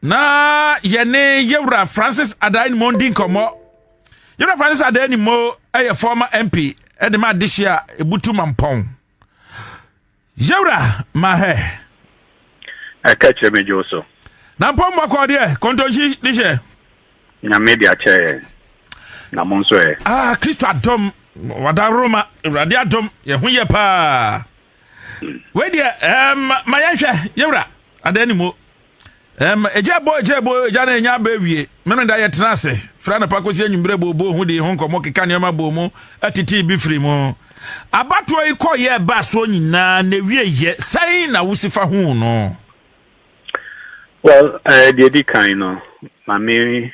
na yɛne yɛwura francis adan mo di nkɔmmɔ yɛwura francis adan mo yɛ former mp de ma adehye a ɛbutu mampɔn yɛwura mahɛ ɛka kyerɛ me dwo so na mpɔ mmɔkɔ deɛ kɔntɔnkyi de hyɛ nyame de akyɛ yɛ na mo nso ɛ ah kristo adom wada roma awurade adom yɛ ho yɛ paa hmm. wei deɛ eh, ma yɛnhwɛ yɛwura adan ne mu Ɛm, egya bɔ, egya bɔ, egya na enya aba awie. Memeneda yɛtena ase, firi anɔpa kɔsi anwummerɛ booboo ho dii ho nkɔmmɔ, keka nneɛma bɔɔ mu, tetee bi firi mu. Abatoɔ yi kɔ yɛ ɛbaa soɔ nyinaa, na ewie yɛ, sɛn na wosi fa hu no? Well, uh, deɛ di kan no, ma me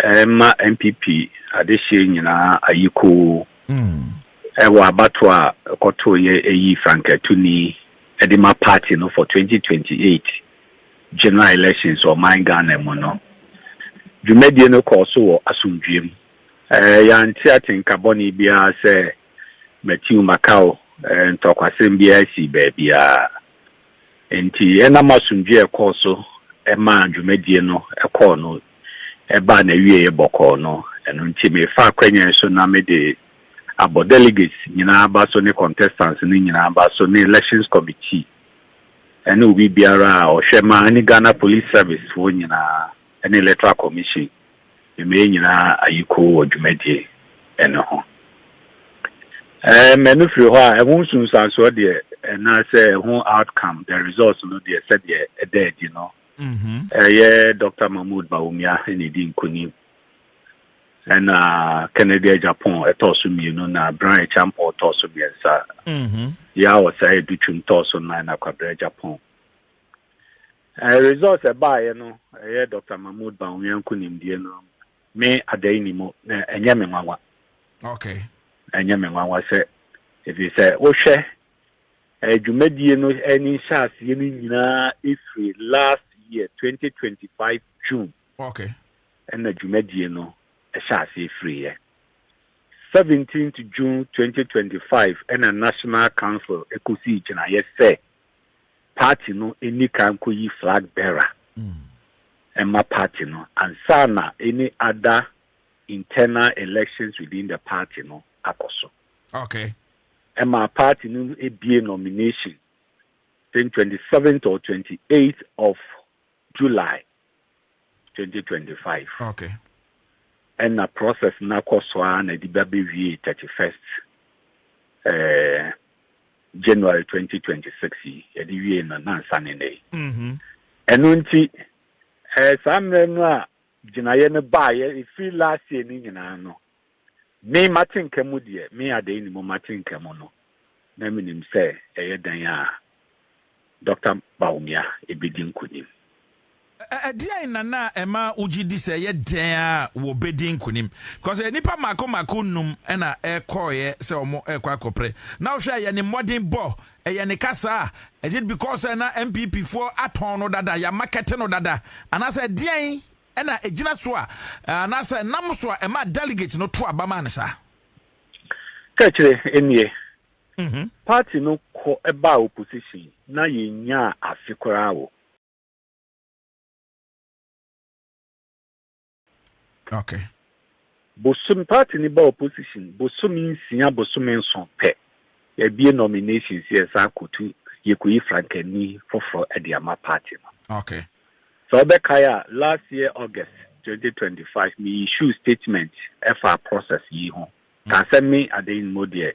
Ɛremma NPP adehyeɛ nyinaa ayi koo wɔ abatoɔ a ɛkɔtoeɛ ɛyii Frank Atuni de ma party no for 2028 general elections wɔ ɔman Ghana mu no. Dwumadie no kɔɔ so wɔ asomdwoeɛ mu. Yɛante atenka bɔne biara sɛ Matiu Makau ntɔkwasɛm biara sii baabiara. Enti ɛnam asomdwoe a ɛkɔɔ so maa dwumadie no kɔɔ no baa n'awieeɛ bɔkɔɔ no, ɛno nti mefa akwanya yi so na mede abɔ delegates nyinaa aba so ne contestants no nyinaa aba so ne elections committee ne obi biara a ɔhwɛ ma ne Ghana Police Service foɔ nyinaa ne Electoral Commission Mmee nyinaa ayi kow wɔ dwumadie no ho. Mmɛ no firi hɔ a, ɛho nsunsuansoɔ deɛ anaasɛ ɛho outcome, the results no deɛ sɛdeɛ ɛda adi no, ɛyɛ Dɔkta Mahmoud Bawumia na ɛdi nkunim, ɛna Kennedy Agyapong tɔɔ so mmienu na Brian Acheampong tɔɔ so mmiɛnsa, Yaw Osei Adutwum tɔɔ so nnan na Kwabena Agyapong. Eh results ɛbaeɛ no ɛyɛ Doctor Mahmood Bawumia nkunimdie no me adai ni mu na ɛnyɛ me nwanwa. Okay. Ɛnyɛ me nwanwa sɛ ɛfiri sɛ wohwɛ eh, dwumadie no eh, ne nhyɛaseɛ no nyinaa ɛfiri last year 2025 June. Okay. Ɛna dwumadie no ɛhyɛ aseɛ firiiɛ. 17th June 2025 ɛna National Council ɛkɔsii gyinaeɛ sɛ party no nni kan nkɔyi flag bearer mma party no ansa na any other internal elections within the party no akɔ so. Okay. Ɛma party no ebie nomination, I think 27th or 28th of July twenty twenty five. Okay. Ɛna process no akɔ so ara na ɛde ba bɛwiee thirty first eh, January twenty twenty six yi yɛde wiee no na nsa ne nnɛ yi. Mm-hmm. Ɛno nti eh, saa mmerɛ no a gyinaeɛ no baeɛ ɛfiri last year no nyinaa no Me m'atenka mu deɛ, me Adeinimu m'atenka mu no, na menim sɛ ɛyɛ dɛn a Dɔkta Bawumia bɛdi nkunim. Ɛdeɛn na na ɛma wogye di sɛ ɛyɛ dɛn a wɔbɛdi nkunim? Because nnipa mmaako mmaako nnum na ɛkɔeɛ sɛ wɔrekɔ akɔpere. Na wohwɛ a ɛyɛ ne mmɔdenbɔ, ɛyɛ ne kasa, is it because sɛ na NPP foɔ atɔn no dada, yɛamakɛte no dada, anaasɛ ɛdeɛn Ɛna ɛgyina so a, anaasɛ ɛnam so a ɛma delegate no to aba ma no saa? Kɛkyerɛ nie, party no kɔ baa opposition na yɛnyaa afe koraa wɔ. Okay. Bosom party no ba opposition bosome nsia bosome nson pɛ yɛabue nominations yɛsan akɔtu yɛkɔyi frankani foforɔ de ama party no. Okay. Sɛ wobɛkae a last year August twenty twenty five me issue statement ɛfaa process yi ho kaa sɛ me Adeyinmo deɛ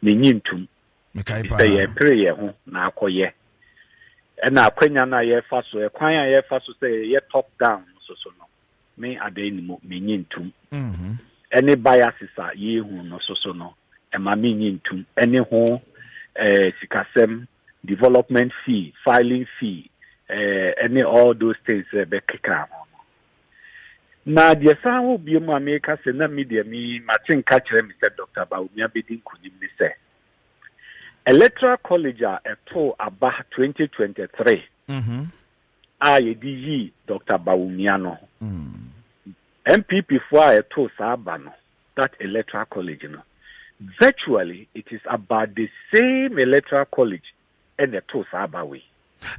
mennye ntom Mekae paa. sɛ yɛpere yɛn ho na akɔyɛ ɛna akwanya no a yɛrefa so ɛkwan a yɛrefa so sɛ yɛyɛ top down no soso no ne adɛn ne mu minnye ntom, ɛne biases a yɛrehu no so so no, ɛma minnye ntom, ɛne ho eh, sikasɛm, development fee, filing fee, eh, ɛne all those things sɛ ɛbɛkeka ho no. Na deɛ san wɔ bie mu a meka sɛ na mi deɛ mi mate nka kyerɛ me sɛ Dr. Bawumia bɛdi nkunim ne sɛ Electoral College a ɛtoo aba 2023 mm -hmm. a yɛde yii Dɔkta Bawumia no ho. NPPfoɔ a ɛtoo saa aba no, that electoral college no, virtually it is about the same electoral college ɛna ɛtoo saa aba wei.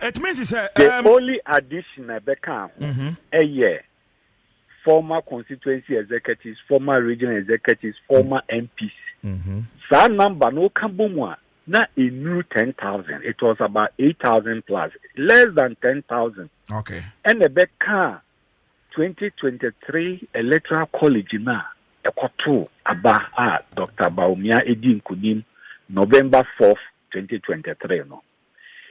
It means sɛ. The um, only addition a ɛbɛka ho mm -hmm. ɛyɛ former constituency executives, former regional executives, former MPs. Mm -hmm. Saa number no ka bɔ mu a Na ennuru ten thousand, it was about eight thousand plus, less than ten thousand. Okay. Ɛna ɛbɛkaa twenty twenty three electoral college no a ɛkɔtoo aba a Dr. Bawumia edi nkunim November fourth, twenty twenty three no.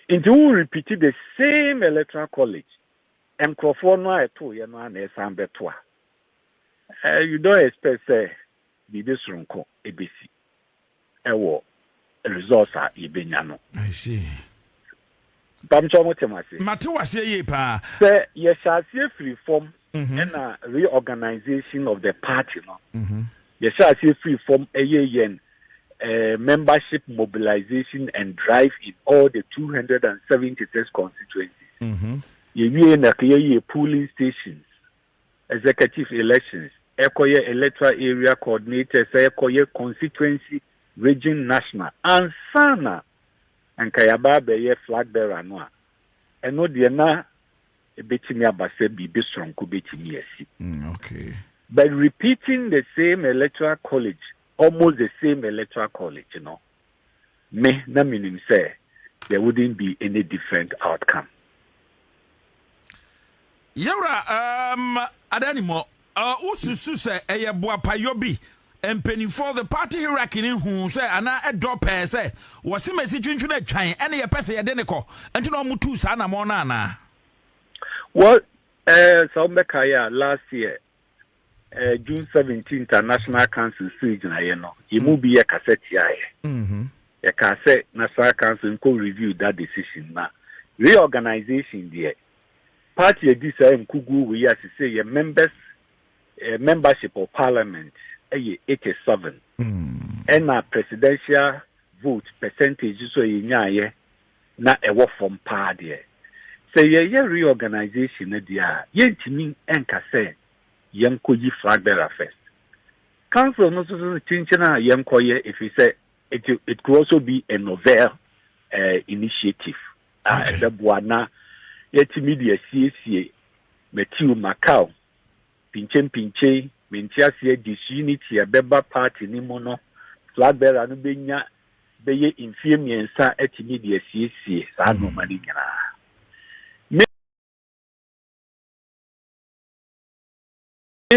Nti wo repeat the same electoral college nkurɔfoɔ no a ɛtooyɛ no a na ɛsan bɛto a, eh, you don't expect sɛ biribi soronko ebesi. wɔ results a yɛbɛnya no. I see. Mpam sɛ ɔmo te mo ase? Mate wo aseɛ yie paa. Sɛ yɛhyɛ aseɛ firi fam ɛna reorganization of the party no, yɛhyɛ aseɛ firi fam ɛyɛ yɛn membership mobilization and drive in all the 276 constituencies. Yɛwie na yɛyɛ polling stations. executive elections, ɛkɔyɛ electoral area coordinators, ɛkɔyɛ constituency, region, national ansa na anka yɛaba abɛyɛ flag bearer no a, ɛno deɛ na ɛbɛtumi aba sɛ biribi soronko bɛtumi asi. Mm, okay. But repeating the same electoral college, almost the same electoral college, you know. me na menim sɛ there wouldn't be any different outcome. Yɛwura um, adanimɔ, uh, wosusu sɛ ɛyɛ boapayɔ bi mpanimfoɔ the party hierarchy no hu sɛ anaa ɛdɔ pɛɛ sɛ wɔse masi twentwene atwan ɛne yɛpɛ sɛ yɛde ne kɔ nti na ɔmotuu saa namɔ no anaa? Well, uh, sɛ wombɛkaeɛ a last year eh, June 17 International Council sii gyinaeɛ no, yɛn mu mm. bi yɛ kasa tiaeɛ. Mm-hmm. Yɛkaa sɛ National Council nkɔ review that decision na reorganization deɛ party adi saa nkuguo wei a sese yɛ members eh, membership of parliament ɛyɛ eh, 87 ɛna mm. presidential vote percentage nso a yɛnyaeɛ na ɛwɔ fam paa deɛ, sɛ yɛyɛ reorganisation no deɛ a, yɛntumi nka sɛ yɛnkɔyi flag bearer first. Council no nso se kyenkyen a yɛnkɔyɛ ɛfiri sɛ it, it could also be a novel uh, initiative a Okay. ɛbɛboa na yɛatumi de asiesie Matthew Macau Pinkyempinkyei, me nteaseɛ disunity a ɛbɛba party no mu no, flag bearer no bɛnya bɛyɛ mfeɛ mmiɛnsa atumi de asiesie saa nnoɔma no nyinaa. Me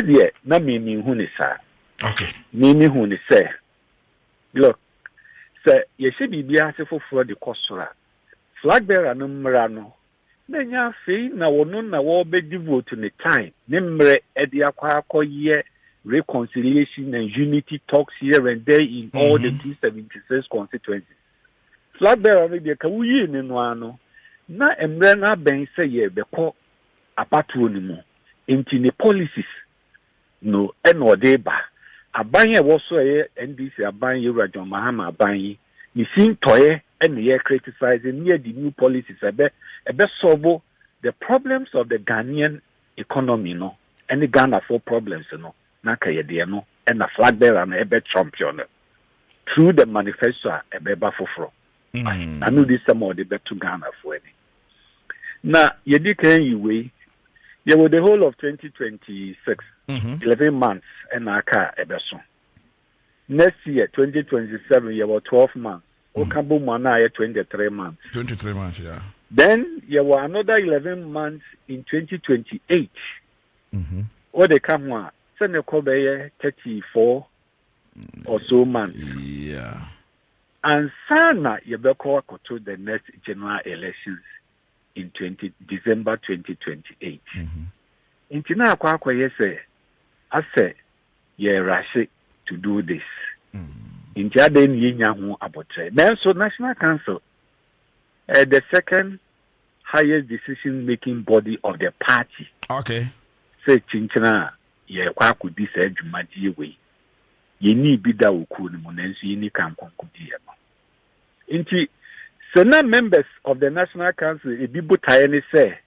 deɛ na me menhu ne saa. Me mehu ne sɛ, look, sɛ yɛhyɛ biribi ase foforɔ de kɔ soro a, flag bearer no mmra no na ɛnyɛ afei na wɔno na wɔbɛ devote ne time ne mmerɛ ɛde akɔ akɔ yɛ reconciliation and unity talks here and there in all mm -hmm. the 276 mhm. constituencies flag bearer no deɛ ka woyii ne no ano na mmerɛ no abɛn sɛ yɛbɛkɔ abatoɔ no mu nti ne policies no na ɔde reba. Aban a ɛwɔ so a ɛyɛ NDC aban yi wura John Mahama aban yi ne sintɔeɛ na yɛ criticize ne yɛ de new policies a ɛbɛ ɛbɛ solve the problems of the Ghanaian economy no ɛne Ghanafoɔ problems no na anka yɛ deɛ no ɛna flag bearer no ɛbɛ champion no through the manifesto a ɛbɛba foforɔ. anodisɛm a ɔde bɛto Ghanafoɔ ani. Na yɛdi kan yi wei yɛwɔ the whole of 2026 11 months ɛna aka a ɛbɛso next year 2027 yɛwɔ 12 months woka mm. bɔ mu ana ayɛ 23 months 23 months yeah. then yɛwɔ another 11 months in 2028 mm-hmm. wode ka ho a sɛ ne kɔ bɛyɛ 34 or so months yeah. Ansana yɛbɛkɔ akɔto the next general elections in 20 December 2028 nti na akɔ akɔyɛ sɛ asɛ yɛ rashe to do this nti adɛn na yɛnya ho abotrɛ nanso National Council eh, the second highest decision making body of the party okay. sɛ kyinkyina a yɛkɔ akɔdi saa dwumadie wei Yennii bi da wɔ kuo no mu, nanso yɛnni kan nkonkodieɛ no. Nti sɛ na members of the National Council ebi botaeɛ ne sɛ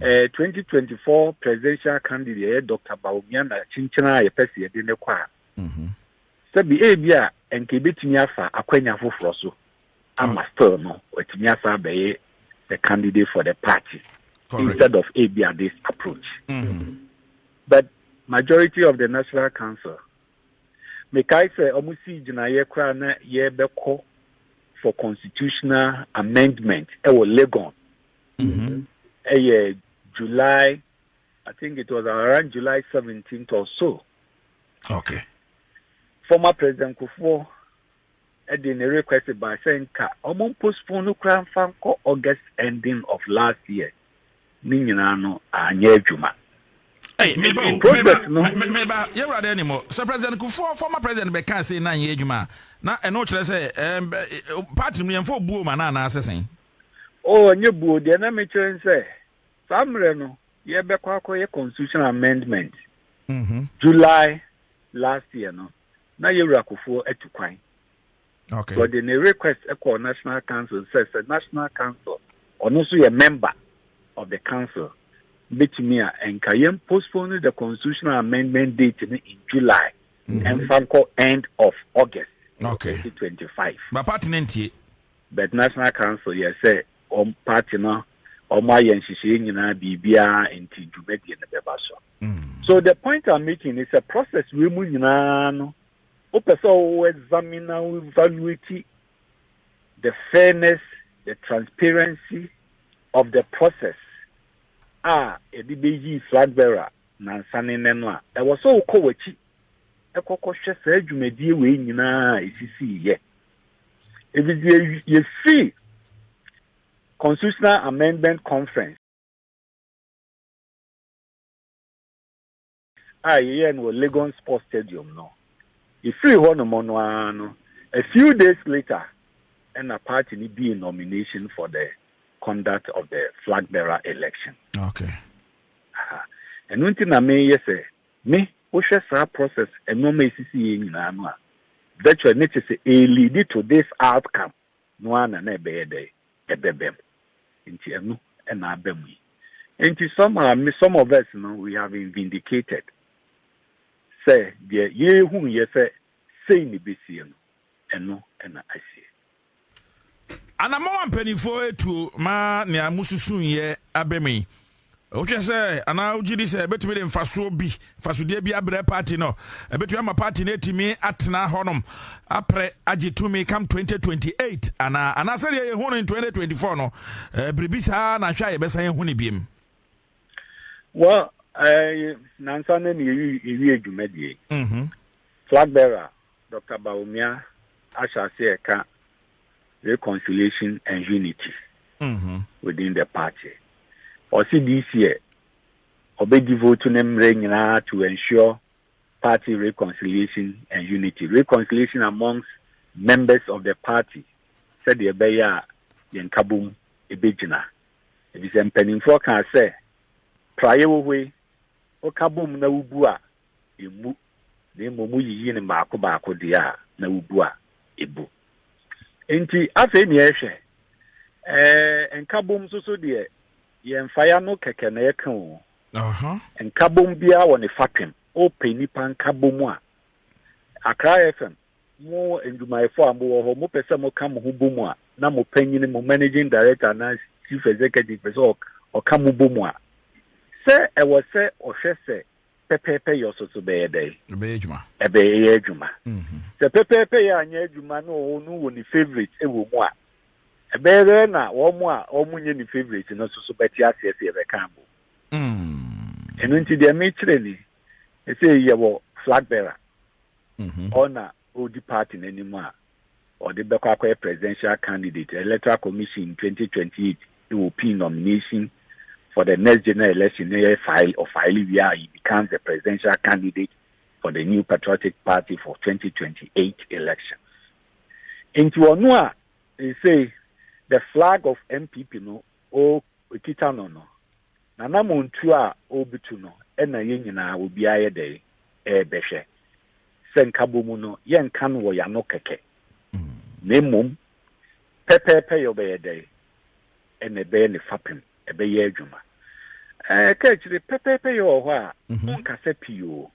eh, 2024 presidential candidate ɛyɛ Dr. Bawumia na kyenkyena a yɛpɛ sɛ yɛde ne kɔ a, mhm. sɛbi ebi a nka ebetumi afa akwanya foforɔ so ama still no watumi asan abɛyɛ the candidate for the party Correct. instead of ebia this approach mm-hmm. but majority of the national council mekae sɛ ɔmo sii gyinaeɛ koraa na yɛbɛkɔ for constitutional amendment ɛwɔ legon mm-hmm. ɛyɛ july i think it was around july 17th or so okay former president kufuor de ne request ba sɛ nka wɔn postpone no koraa mfa nkɔ August ending of last year ne nyinaa no anyɛ adwuma. Hey, me bro, project no. Me, me ba, ye wura de ni mo. Sɛ president Kufuor former president bɛ ka se na nyɛ adwuma a, na ɛno kyerɛ sɛ eh, party no yɛmfa obuo ma na anaa sesen. Oh, nyɛ buo deɛ na mekyerɛ n sɛ saa mmerɛ no yɛbɛkɔ akɔyɛ constitutional amendment mm -hmm. July last year no na yɛ wura kufuor atu kwan okay so ɔde ne request ɛkɔɔ national council sɛ sɛ national council ɔno nso yɛ member of the council betumi a ɛnka yɛn postpone the constitutional amendment date no in july ɛnfa mhm. nkɔ end of august okay 2025 ba party no ntie but national council yɛ sɛ ɔm party no ɔmo ayɛ nhyehyɛe nyinaa biribiara nti dwumadie no bɛba so so the point i'm making is a process wei mu nyinaa no wopɛ sɛ wo examine na wo evaluate the fairness the transparency of the process a yɛde bɛyi flag bearer nansa ne nnɛ no a ɛwɔ sɛ wokɔ w'akyi ɛkɔkɔhwɛ saa dwumadie wei nyinaa a ɛsisiiɛ ɛfisɛ yɛfiri constitutional amendment conference a yɛyɛɛ no wɔ Legon Sports Stadium no, yɛfiri hɔnom no ara no, a few days later ɛna party no dii nomination for the conduct of the flag bearer election. Okay. Aha. Ɛno nti na meyɛ sɛ me wohwɛ saa process nneɛma esisi yɛ nyinaa no a virtual ne te sɛ a lead to this outcome. no ara na na ɛbɛyɛ dɛn? Ɛbɛba mu. Nti ɛno na aba mu yi. Nti some are me, some of us no we have been vindicated sɛ deɛ yɛhuiɛ sɛ sei na ɛbɛsie no, ɛno na asie. Anamɔn a mpaninfoɔ atuo ma nea mosusuiɛ aba mu yi. Wohwɛ sɛ anaa wogye di sɛ ɛbɛtumi de mfasoɔ bi mfasodeɛ bi abrɛ party no ɛbɛtumi ama party no atumi atena hɔnom aprɛ agye tumi kam 2028 anaa anaa sɛdeɛ yɛhu no in 2024 no biribi saa na hwɛ a yɛbɛsan ahu no biom well eh, nansa no ne ɛwie dwumadie mhm. flag bearer dr baomia ahyɛ aseɛ ɛka reconciliation and unity mm-hmm. within the party ɔsi this year ɔbɛdi vote ne mmerɛ nyinaa to ensure party reconciliation and unity reconciliation amongst members of the party sɛdeɛ ɛbɛyɛ a yɛn kabom ɛbɛgyina ebi sɛ mpanimfoɔ kaa sɛ praeɛ wɔ hɔ yi woka bom na wobu a emmu, na mmom woyiyi no mmaako baako deɛ a na wobu a ebu. Enti afei nea ɛhwɛ, ɛɛ, nkabom nso so deɛ, yɛmfa yɛ ano kɛkɛ na ɛka o. Aha. Nkabom biara wɔ ne fapem. Wopɛ nnipa nkabom a, Accra FM, mo adwumayɛfo a mowɔ hɔ, mopɛ sɛ moka mo ho bom a, na mo panyin, mo managing director anaa chief executive pɛ sɛ ɔka mo bom a, sɛ ɛwɔ sɛ ɔhwɛ sɛ pɛpɛɛpɛ yɛ so so bɛyɛ dɛn ɛbɛyɛ adwuma ɛbɛyɛ adwuma mhm. sɛ pɛpɛɛpɛ yɛ anyɛ adwuma na ɔwɔ no wɔ ne favorite wɔ mu a ɛbɛyɛ dɛn na wɔn a wɔn nyɛ ne favorite no so so bɛte aseɛ sɛ yɛbɛka abo mm. ɛno nti deɛ mekyerɛ ni ɛsɛ yɛwɔ flag bearer mhm. ɔna ɔdi party no anim a ɔde bɛkɔ akɔyɛ presidential candidate electoral commission twenty twenty eight na opii nomination for the next general election na yɛ file ɔfile wie a he becomes the presidential candidate for the new patriotic party for twenty twenty eight elections nti ɔno a ese the flag of npp no o ekita no no na na montuo a ɔrebutu no ɛna yɛn nyinaa obiara yɛ dɛ ɛrebɛhwɛ sɛ nkabomu no, yɛnnka no wɔ yɛn ano kɛkɛ, na mmom pɛpɛɛpɛ yɛ ɔbɛyɛ dɛn? Ɛna ɛbɛyɛ ne fapem, ɛbɛyɛ adwuma. Ɛɛ, ka akyire, pɛpɛɛpɛ yɛ wɔ hɔ a, mhm. wonkasa pii o.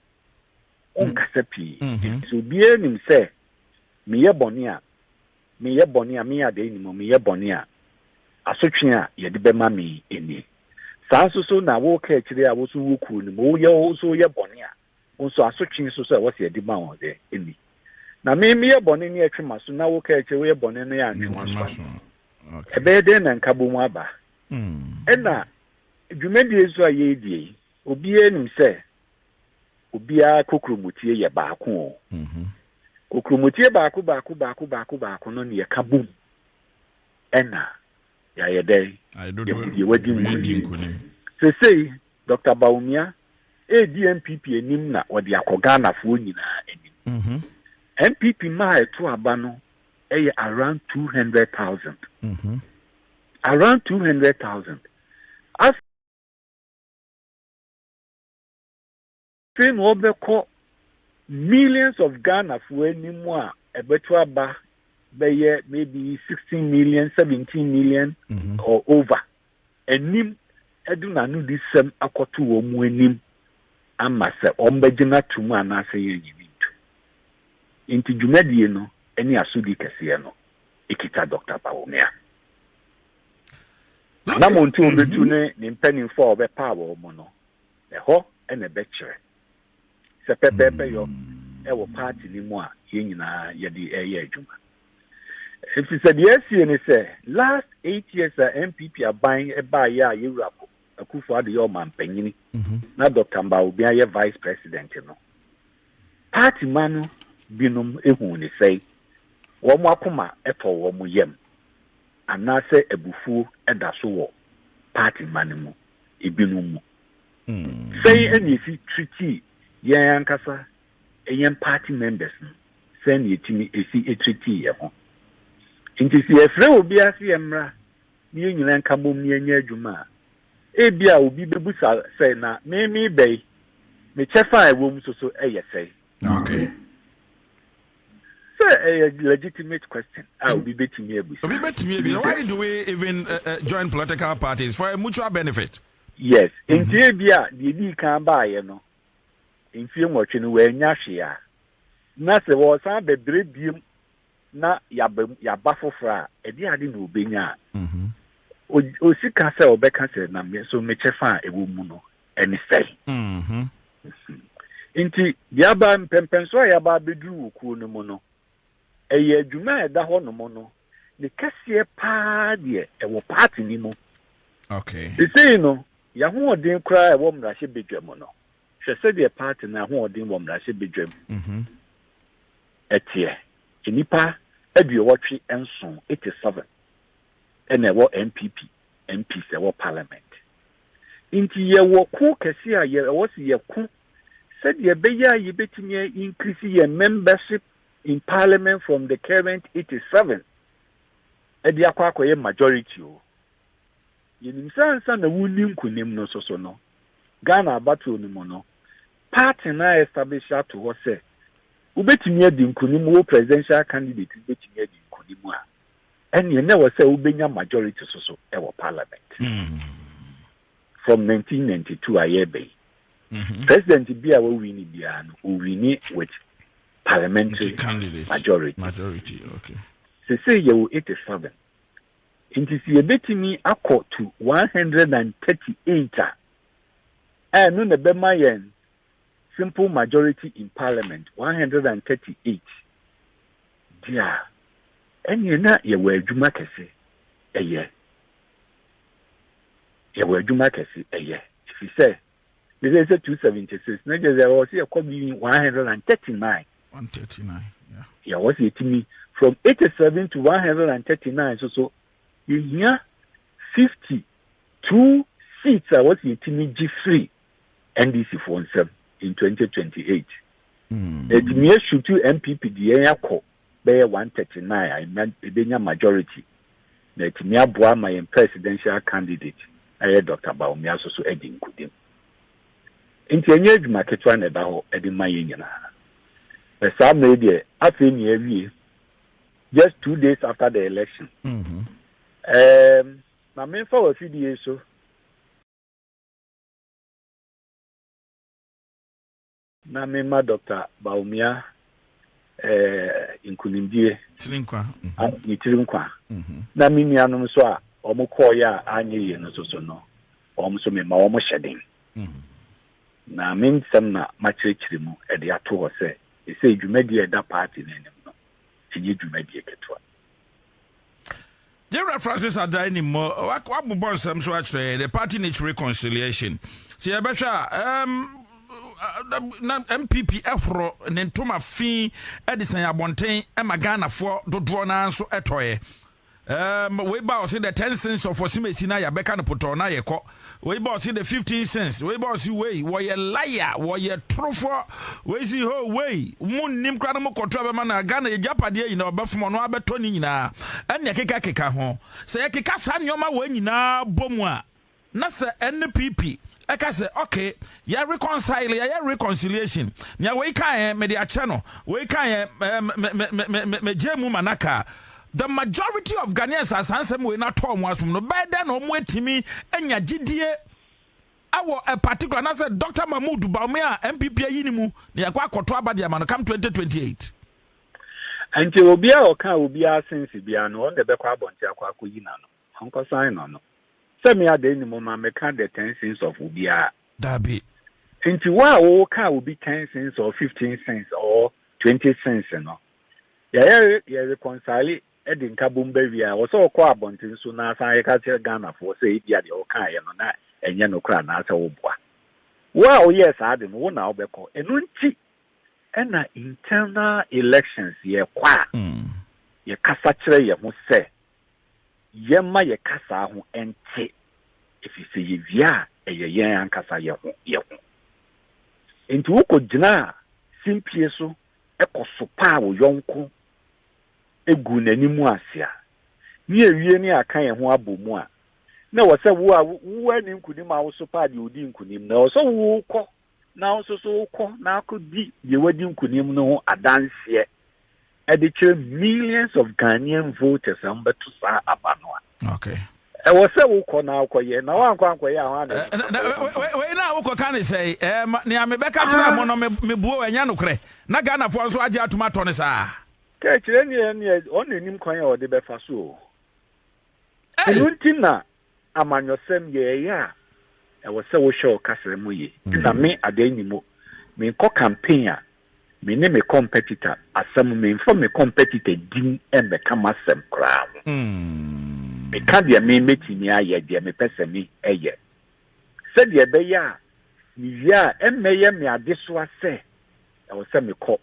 Wonkasa pii. Mhm. Nti obiara nim sɛ meyɛ bɔne a, meyɛ bɔne a, meyɛ adɛn nim meyɛ bɔne a, asotwe a yɛde bɛma me ni. Saa nso so na woka akyire a wo so wo kuru no mu, woyɛ wo so woyɛ bɔne a, Wo nso asotwe nso sɛ wɔsi adi ma wo dɛ? Enni. Na me, meyɛ bɔne ne atwe m'aso, na wo, ka akyire, woyɛ bɔne ne antwe w'aso ano. Ɛbɛyɛ dɛn na nkabɔmu aba? Ɛna dwumadie nso a yɛredie yi, obiara nim sɛ obiara kokuromotie yɛ baako o. Kokuromotie baako baako baako baako baako no ne yɛka bom ɛna Yɛayɛ dɛn? Yɛn mu deɛ wadi nkunim. Sesei Dɔkta Bawumia redi NPP anim na wɔde akɔ Ghanafoɔ nyinaa anim. Mhm. NPP mma a ɛto aba no yɛ around two hundred thousand. Mhm. Around two hundred thousand. Sɛ na ɔbɛkɔ millions of Ghanafoɔ anim a, ɛbɛto aba bɛyɛ maybe sixteen million, seventeen million mhm. or over. Anim ɛde n'ano di sɛm akɔto wɔn mu anim ama sɛ wɔn bɛgyina to mu anaasɛ yɛn nyini nto. Nti dwumadie no ne asodi kɛseɛ no ekita Dr. Bawumia. Anamɔntu a obetu ne ne mpanimfoɔ a ɔbɛpaa wɔn no. Ɛhɔ na ɛbɛkyerɛ. Sɛ pɛpɛɛpɛ yɔ wɔ party no mu a yɛn nyinaa yɛde reyɛ adwuma. Efisɛ deɛ asie ne sɛ last eight years a NPP aban baeɛ a yɛwura Akufo Addo yɛ ɔmampanyini mhm. na Dr. Mbah Obiang yɛ vice president no, party ma no binom ehu ne sɛe, wɔn akoma tɔ wɔn yam, anaasɛ abufuo da so wɔ party ma no mu. ebinom mu. Sɛn na yesi treaty yɛn ankasa yɛn party members no, sɛn na yetumi si treaty yɛn ho. Nti sɛ yɛfrɛ obiara sɛ yɛmmra na yɛn nyinaa nka bom na yɛnyɛ adwuma a, ebia obi bebisa sɛ, na me mebɛn? Me kyɛfa a ɛwom nso so yɛ sɛn? Okay. Sɛ ɛyɛ legitimate question a obi betumi abisa. Obi betumi abisa why do we even uh, uh, join political parties for a mutual benefit? Yes, mm -hmm. nti ebi a deɛ di kan baayɛ no mfie nwɔtwe no wɔanya hwee a na sɛ wɔsan bɛbrɛ biem na yɛaba mu, yɛaba foforɔ a, ɛdeɛ ade na ɔbɛnya a, ɔsi ka sɛ ɔbɛka sɛ na me nso mekyɛ fa a ɛwɔ mu no ɛne sɛe. Nti deɛ aba mpɛmpɛnsoɔ a yɛaba abɛduru wɔ kuo no mu no, ɛyɛ adwuma a ɛda hɔ nom no, ne kɛseɛ paa deɛ ɛwɔ paati no mu. Sesei no, yɛahoɔden koraa ɛwɔ mmarahyɛ badwa mu no, hwɛ sɛdeɛ paati no ahoɔden wɔ mmarahyɛ badwa mu. Ɛteɛ. Nnipa aduowɔtwe nson, eighty seven, na ɛwɔ NPP MPs ɛwɔ parliament. Nti yɛwɔ ko kɛse a ɛwɔ se yɛko sɛdeɛ ɛbɛyɛ a yɛbɛtumi a increase yɛn membership in parliament from the current eighty seven ɛde akɔ akɔyɛ majority o. Yɛnim sɛ ansa na wonni nkunim no nso so no, Ghana abatoɔ no mu no, Parton a establish ato hɔ sɛ wobetumi adi nkonim wo presidential candidate no betumi adi nkonim a, ɛneɛ na ɛwɔ sɛ wobenya majority so so wɔ parliament. From 1992 a yɛreba yi, mm-hmm. president bi a wɔwini biara no, owini with parliamentary majority. Majority, okay. Sese yɛwɔ 87. Nti sɛ yɛbɛtumi akɔ to 138 a, Ɛno na ɛbɛma yɛn simple majority in parliament, 138 deɛ a, ɛnneɛ na yɛwɔ adwuma kɛse ɛyɛ. Yɛwɔ adwuma kɛse ɛyɛ. Ɛfiri sɛ, ne sɛ sɛ 276 na gyɛ sɛ ɛwɔ sɛ yɛkɔ bi 139. 139, yeah. Yɛwɔ sɛ yɛtumi from 87 to 139 so so yɛhia 50 two seats a wɔsi etimi gye firi NDC foɔ nsam in twenty twenty eight etimi esutu NPP de yɛn akɔ bɛyɛ one thirty nine a nya ebenya majority na etimi aboa ama yɛn presidential candidate ɛyɛ Dr. Bawumia so so adi nkudim nti enye adwuma ketewa na ɛda hɔ ɛde ma yɛn nyinaa na saa mmerɛ yi deɛ afei na yɛawie just two days after the election. Mm -hmm. um, Ma memfa w'afidie so. Na memma Doctor Bawumia eh, nkunimdie. Tiri nkwa. Mhm. Ne tiri nkwa. Mhm. Na me nuanom nso a wɔn kɔɔeɛ a anyɛ yie no nso so no, wɔn nso mema wɔn hyɛ den. Mhm. Na me nsɛm na makyerɛkyerɛ mu de ato hɔ sɛ, ɛsɛ dwumadie a ɛda paati no anim no, ɛnyɛ dwumadie ketewa. General Francis Adai ni mmɔ wabobɔ nsɛm so akyerɛ yɛ the party needs reconciliation sɛ yɛbɛhwɛ a um, na mpp ɛhoro ne ntoma fi de sɛn abɔnten ma ghanafoɔ dodoɔ no ara nso ɛtɔeɛ um, wei ba ɔse the ten cents of ɔsemasi no a yɛbɛka no potɔɔ no ayɛkɔ Wei boss de 15 cents. Wei boss wei wɔyɛ laya wɔyɛ torofoɔ. Wei si ho wei mo nim kora no mo kɔtɔ bɛma na Ghana yɛ gyapadeɛ nyinaa ɔbɛfom ɔno abɛtɔ ne nyinaa ɛne ɛkeka keka ho. Sɛ yɛkeka saa nneɛma wɔ nyinaa bɔ mu a na sɛ NPP ɛka sɛ okay yɛ reconcile yɛyɛ reconciliation nea wei kaeɛ mede akyɛ no wei kaeɛ megye mu ma no aka The majority of Ghanaians a saa nsɛm wei no atɔ wɔn asom no, bɛyɛ dɛn na wɔatumi anya gyidie wɔ a particular anaasɛ Dr. Mahmood Bawumia a NPP ayi no mu na yɛakɔ akɔto aba de ama no come 2028? Nti obiara a ɔka obiara sense biara no, ɔno na ɛbɛkɔ abɔnten akɔ akɔyi n'ano. Ɔnkɔsan no no. Sɛ me Adan ni momma meka the ten sins of obiara. Dabi. Nti wo a woka obi ten sins or fifteen sins or twenty sins no, Yɛyɛre yɛ reconcile de nkabom ba wie a, ɛwɔ sɛ ɔkɔ abɔnten so na asan akeka kyerɛ Ghanafoɔ sɛ ebia deɛ wokaeɛ no na ɛnyɛ nokorɛ anaasɛ woboa. Wo a woyɛɛ saa ade no, wo na wobɛkɔ. Ɛno nti na internal elections yɛkɔ a, yɛkasa kyerɛ yɛn ho sɛ yɛmma yɛn kasaa ho nte, ɛfiri sɛ yɛwie a, ɛyɛ yɛn ankasa yɛn ho yɛn ho. Enti wokɔgyina simpie so kɔ so paa wo yɔnko gu n'anim ase a, ne awiei no yɛaka yɛn ho abɔ mu a, na ɛwɔ sɛ wo a woanni nkonim a wo so paa deɛ ɔdii nkonim no. Ɛwɔ sɛ wokɔ na wo nso so wokɔ na akɔdi deɛ wadi nkonim no ho adanseɛ de kyerɛ millions of Ghanaian voters a wɔbɛto saa aba no a. okay ɛwɔ sɛ wokɔ na wokɔyɛ na woankɔ ankɔyɛ a hɔ anawei na wokɔka ne sɛ ɛma nea mebɛka kyerɛ mo no mebuo ɛnyɛ nokorɛ na ghanafoɔ nso agye atom atɔ no saa kɛkyerɛ neɛ neɛ ɔne anim kwan a ɔde bɛfa so o ɛno nti na amanyɔsɛm yɛɛyɛ a ɛwɔ sɛ wohwɛ wo kasra mu ye na me adeɛ nyi mu menkɔ campaign a Me ne me competitor asɛm, memfa me competitor din mmɛka m'asɛm koraa ho. Meka deɛ me mɛtumi ayɛ, deɛ mepɛ sɛ me yɛ. Sɛdeɛ ɛbɛyɛ a me wie a ɛmmɛyɛ me adesoa sɛ ɛwɔ sɛ mekɔ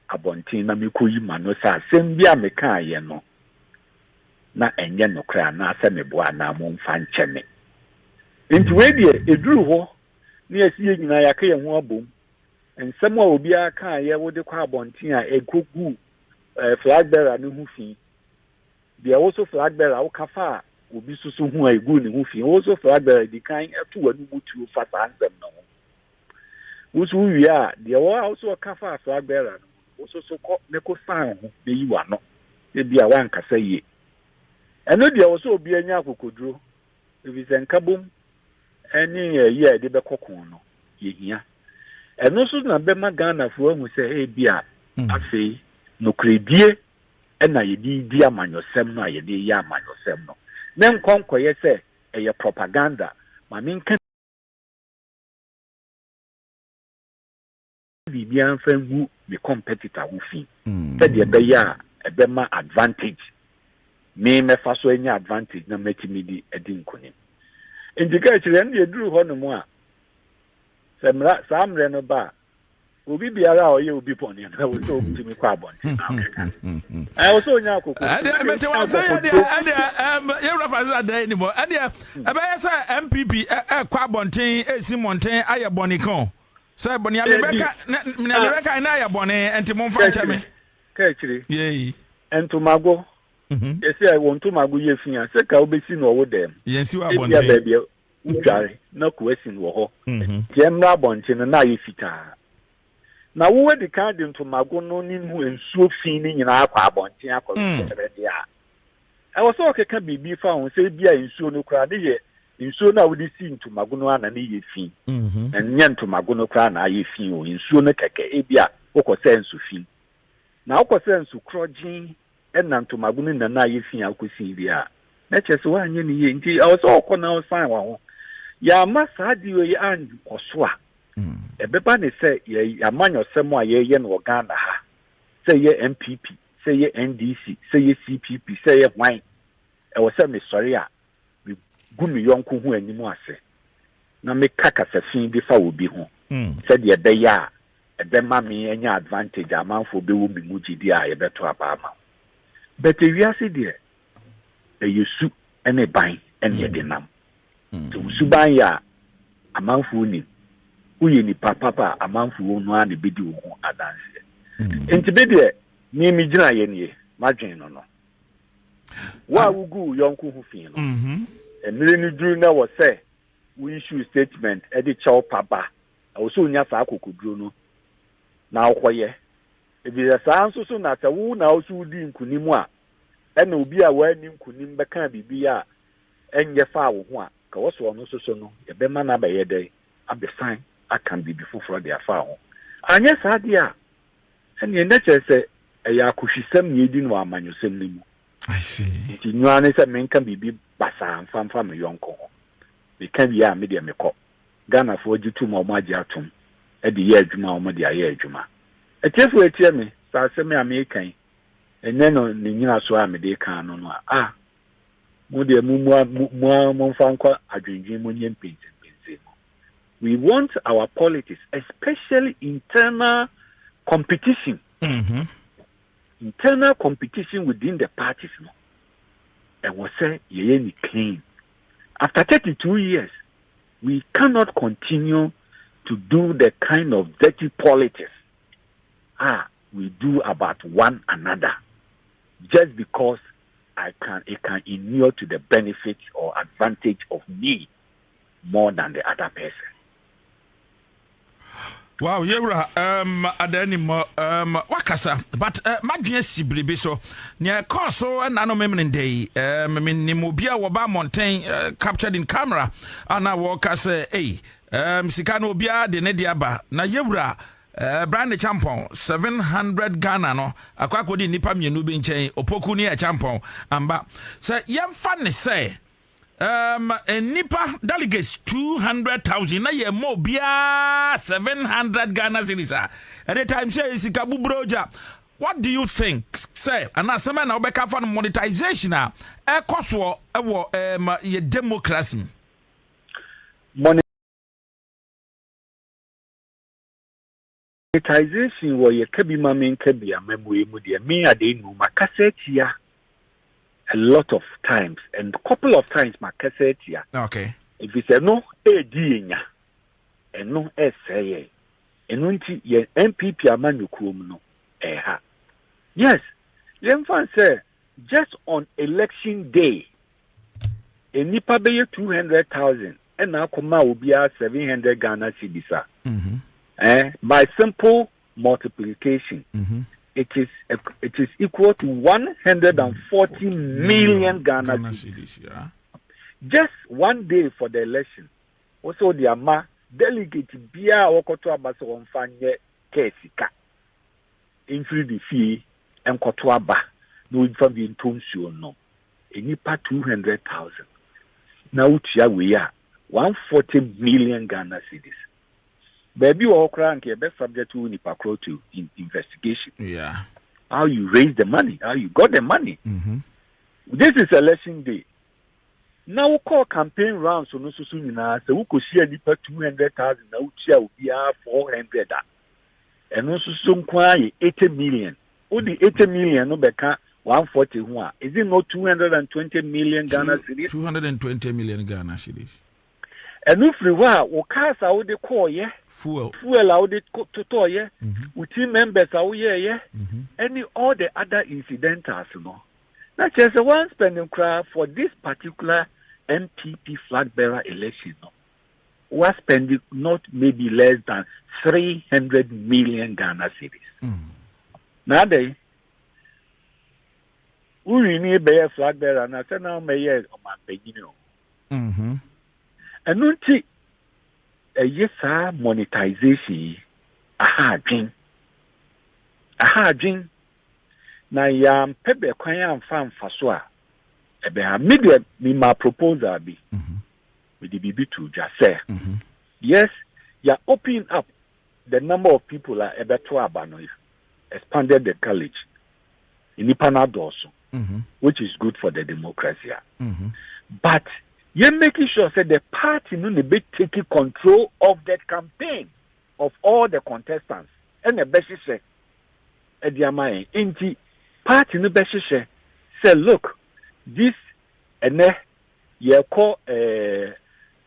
abɔnten na mekɔyi m'ano sɛ asɛm bi a mekaeɛ no na ɛnyɛ nokorɛ anaasɛ meboa anaa momfa nkyɛ me. Nti wei deɛ ɛduru hɔ ne yɛsi yɛn nyinaa yɛaka yɛn ho abom nsɛm a obiara kaeɛ wode kɔ abɔnten a ɛkɔgu eh, flag bearer no ho fi deɛ wo so flag bearer woka fa a obi soso ho a ɛgu ne ho fi wo so flag bearer di kan to w'ano mu tuo fa saa nsɛm no ho wo so wowie a deɛ wɔ a wo so ɔka fa flag bearer no wo so so kɔ ne ko san ho na yi w'ano ebi a woankasa yie ɛno deɛ wɔ sɛ obi anya akokoduro ɛfiri sɛ nka bom ne ayi a yɛde bɛkɔ ko no, yɛhia. Ɛno nso na bɛma Ghanafoɔ ahu sɛ ebia afei nokorɛdie na yɛde di amanyɔsɛm no a yɛde reyɛ amanyɔsɛm no, na nkɔ nkɔyɛ sɛ ɛyɛ propaganda ma menka biribiara mfa ngu me competitor ho fi sɛdeɛ ɛbɛyɛ a ɛbɛma advantage me mɛfa so anya advantage na matumi di adi nkonim nti ka akyire ɛno deɛ duru hɔ nom a sɛ mmara saa mmerɛ no ba a obi biara a ɔyɛ obi bɔne no ɛwɔ sɛ ɔtumi kɔ abɔnten na ɔkɛka ɛwɔ sɛ ɔnya akoko yɛwura fa sɛ adɛn nim ɛdeɛ ɛbɛyɛ sɛ mpp ɛkɔ abɔnten ɛsi mmɔnten ayɛ bɔne ka o Sɛ nea mebɛka nea ah. mebɛka ɛna yɛ bɔne nti momfa nkyɛ me. Ka akyire. Yei. Ntomago. Mhm. Yɛsi a wɔn ntomago yɛ fi a sɛ ka wobɛsi na ɔwo dɛm. Yɛnsi wɔ abɔnten. Ebia baabi a wodware na ko asin wɔ hɔ. Mhm. Nti ɛmmerɛ abɔnten no na ayɛ fitaa. Na wo adi kan de ntomago no ne mu nsuo fi no nyinaa akɔ abɔnten akɔ mm. sɛrɛde a Ɛwɔ sɛ ɔkeka biribi fa ho sɛ ebia nsuo no koraa ne yɛ nsuo no a wode si ntomago no ara na ne yɛ fi. Ɛnyɛ ntomago no koraa na ayɛ fi o, nsuo no kɛkɛ. Ebia wokɔsɛɛ nsu fi, na wokɔsɛɛ nsu korɔgyenn na ntomago no nyinaa ayɛ fi a wokɔsii wie a, na ɛkyerɛ sɛ woanyɛ no yie. Nti ɛwɔ sɛ wokɔ na wosan wo ho. Yɛamma saa deal yi ankɔ so a, ɛbɛba ne sɛ yɛn amanyɔsɛm a yɛyɛ no wɔ Ghana ha sɛ yɛ NPP sɛ ɛyɛ NDC, sɛ ɛyɛ CPP, sɛ ɛyɛ hwan, ɛwɔ sɛ mesɔre a megu me yɔnko ho anim ase na meka kasasin bi fa obi ho sɛdeɛ ɛbɛyɛ a ɛbɛma me anya advantage a amanfoɔ bɛwɔ me mu gyidie a yɛbɛto aba ama wo. But ewiase deɛ, ɛyɛ su ne ban na yɛde nam. Sɛ wo suban yɛ a, amanfoɔ nim. Woyɛ nipa papa a, amanfoɔ no ara na ɛbɛdi wo ho adanseɛ. Nti me deɛ, me me gyinaeɛ nie, madwen no no. Wo a wogu wo yɔnko ho fi no, mmerɛ no duru na wɔ sɛ wo issue statement de kyɛ wo pa ba, ɛwɔ sɛ wonya saa akokoduro no na wokɔyɛ. Ɛfiri sɛ saa nso so na sɛ wo na wo so wodi nkunim a, ɛna obi a wanni nkonim bɛkaa biribi a ɛnyɛ faa wo ho a, nka wɔ sɛ ɔno nso so no, yɛbɛma no abɛyɛ dɛn? Abɛsan aka biribi foforɔ de afa ho. Anyɛ saa deɛ a, ɛnneɛ na kyerɛ sɛ ɛyɛ akohwisɛm na yɛredi no wɔ amanyɔsɛm no mu. Nti nyo ara ne sɛ menka biribi basaa mfa mfa me yɔnko ho. Meka wie a, me deɛ mekɔ. Ghanafoɔ gye tom a wɔagye atom de yɛ adwuma a wɔde ayɛ adwuma. Atiefoɔ atie me, sɛ asɛm yi a mereka yi Ɛnyɛ no ne nnyinasoɔ a mede reka ano no a, ah, mo deɛ mommua, mo ara momfa nkɔ adwendwen mu nyɛ mpɛnsɛmpɛnsɛn mu. We want our politics, especially internal competition, mm-hmm. internal competition within the parties no. Ɛwɔ sɛ yɛyɛ ne clean. After 32 years, we cannot continue to do the kind of dirty politics. Ah, we do about one another just because I can it can inure to the benefit or advantage of me more than the other person. Wow, yɛwura um, adanim um, wakasa but uh, madwene si biribi so nea ɛkɔɔ so ɛna no memene ndɛ yi um, menim obi a wɔba mmɔnten uh, captured in camera ana wɔka sɛ ei um, sika no obiara de ne de aba na yɛwura Ɛbra ne kyampɔn seven hundred Ghana no akɔ akɔdi nnipa mmienu bi nkyɛn, Opoku ne Akyampɔn Amba. Sɛ yɛmfa ne sɛ um, nnipa delegates two hundred thousand na yɛmmɔ obiara seven hundred Ghana cedis a, at the time sɛ sika buburo gya what do you think sɛ anaa asɛm a na wobɛka fa no monetization a ɛkɔ soɔ wɔ um, yɛ democracy mu Monetization wɔ yɛ ka bi ma me nka bi a mabue mu deɛ me adee nuu makasa atia a lot of times and couple of times makasa atia okay ɛfiri sɛ ɛno ɛredi yɛ nya ɛno ɛresɛe yɛ ɛno nti yɛ npp ama nyokuo mu no ɛha yes yɛmfa sɛ just on election day nnipa bɛyɛ 200000 ɛna akɔ maa obiara seven hundred ghana cedis a ɛɛ by simple multiplication mm-hmm. it is it is equal to one hundred and forty million ghana cedis just one day for the election wɔsɛ wɔde ama delegate biara a wɔkɔto aba sɛ wɔmfa nyɛ kɛɛ sika mfiri de fie nkɔto aba na wɔmfa bi ntɔ nsuo nom. nnipa two hundred thousand na wotua wei a, one forty million Ghana cedis. Baabi wɔ hɔ koraa anka yɛbɛ subject wo nipa korɔ to in investigation. Yeah. How you raise the money, how you got the money. Mm -hmm. This is election day. Na wokɔɔ campaign rounds no soso nyinaa sɛ wokɔhyia nipa two hundred thousand na wotua obiara four hundred a. Ɛno nso so nko ara yɛ eighty million. Wode eighty million no bɛka one forty ho a, is it not two hundred and twenty million Ghana cedis? Two hundred and twenty million Ghana cedis. Ɛno firi hɔ a, wo cars a wode kɔɔyɛ, fuel, fuel a wode totɔɔyɛ, mhm. wo team members a woyɛɛyɛ, mhm. ɛne all the other incidentals no. Na kyerɛ sɛ one spending koraa for this particular NPP flag bearer election no. wɔaspɛnde not maybe less than three hundred million ghana cedis mm. na adɛn worini bɛyɛ flag bearer na sɛ na womɛyɛ ɔmampanyini o mm-hmm. ɛno nti ɛyɛ saa monetization yi aha adwen aha adwen na yɛampɛ bɛ kwan amfa mfa so a ɛbɛha me deɛ mema proposal bi mm-hmm. Mede biribi too dwa sɛ, yes, yɛa open up the number of people a ɛbɛto aba no, yɛa expanded the college, nnipa no adɔɔso, which is good for the democracy a. But yɛ making sure sɛ the party no na ɛbɛtake control of the campaign of all the contestants ɛna ɛbɛhyehyɛ ɛde ama yɛn. Enti party no bɛhyehyɛ sɛ look this ɛnɛ Yɛkɔ eh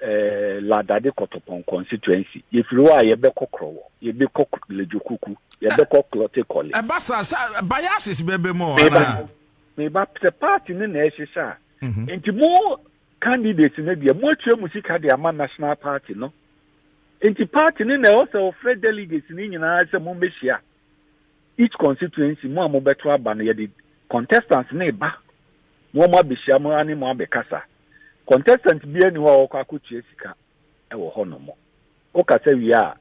eh Ladade Kɔtɔpɔn constituency. Yɛfiri hɔ a yɛbɛkɔ Krɔwɔ, yɛbɛkɔ Ledzokuku, yɛbɛkɔ Klottey Kɔle. Ɛba saa sɛ biases bɛba mu anaa? Meba, meba, sɛ party no na ɛhyehyɛ a. Nti mo candidates no deɛ, moatua mo sika de ama national party no. Nti party no na ɛwɔ sɛ ɔfrɛ delegates no nyinaa sɛ mommɛhyia. Each constituency mo a mo bɛto aba no yɛde contestants no reba mo ɔmo abɛhyia mo ne mo abɛkasa. Contestant biara nni hɔ a ɔkɔ akɔtua sika wɔ hɔ nom. Wo kasa wie a